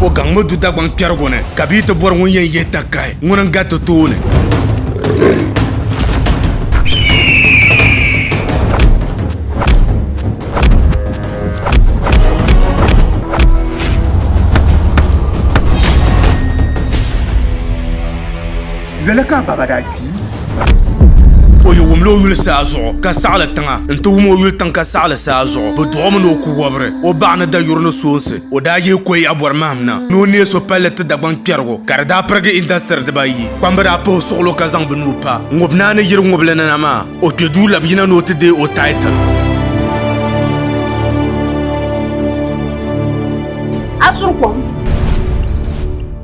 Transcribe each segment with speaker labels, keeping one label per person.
Speaker 1: O gaŋmi du Dagbaŋ kpɛrigu ni, ka bia ti bɔri ŋun yɛn yihi takahi, ŋuni n-gariti tooni.
Speaker 2: Lala ka a baaba daa
Speaker 1: kpi. O yi wumla o yuli saa zuɣu ka saɣili tiŋa n-ti wum o yuli tiŋ ka saɣili saa zuɣu, bɛ dɔɣi o mi ni o ku wɔbiri o baɣa ni dayuri ni soonsi. O daa yihi Koyi Abɔri mahim na ni o neei so palli ti Dagbaŋ kpɛrigu ka di daa pirigi indasitiri dibaayi. Kpamba daa puhi suɣulo ka zaŋ bɛ nuu pa Ŋubnaa ni yiri ŋubili ni na maa. O kpe duu labi yina ni o ti deei o title. A suri kom.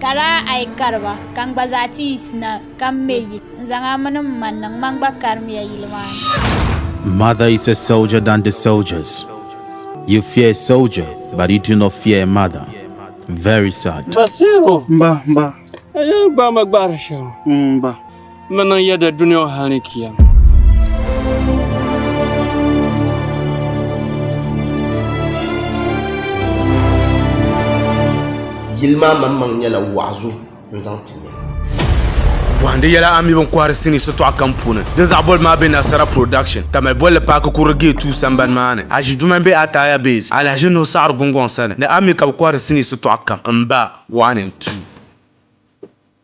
Speaker 3: Ka daa a yi kari ba, ka n gba zaa ti yiɣisi na ka m me yili n-zaŋ a mini m ma n-niŋ ma gba karimiya yili maa ni.
Speaker 4: Mother is a soldier than the soldiers, you fear a soldier but you do not fear a mother, very sad. Basiru! Mba,
Speaker 5: mba.
Speaker 2: Ayi gbaai
Speaker 5: ma gbaara shɛli ŋɔ. Mba.
Speaker 2: N ni niŋ yɛda
Speaker 5: dunia hal ni kiyama.
Speaker 6: Yili maa maŋmaŋ nyɛla waɣizu n-zaŋ ti ya. Bɔhindi
Speaker 1: yɛla a mi bini kɔhiri sinii sitɔɣu kam puuni. Din zaɣ boli maa be Nasara Production, Tamale bolli paaki kurili Gate 2 sambani maa ni. Aʒi duma m-be Ataya Base, Alahaji Nuhu Saɣiri Gungɔŋ sani. Ni a mi ka bɛ kɔhiri sinii sitɔɣu kam. M ba, waɣa ni n-tu.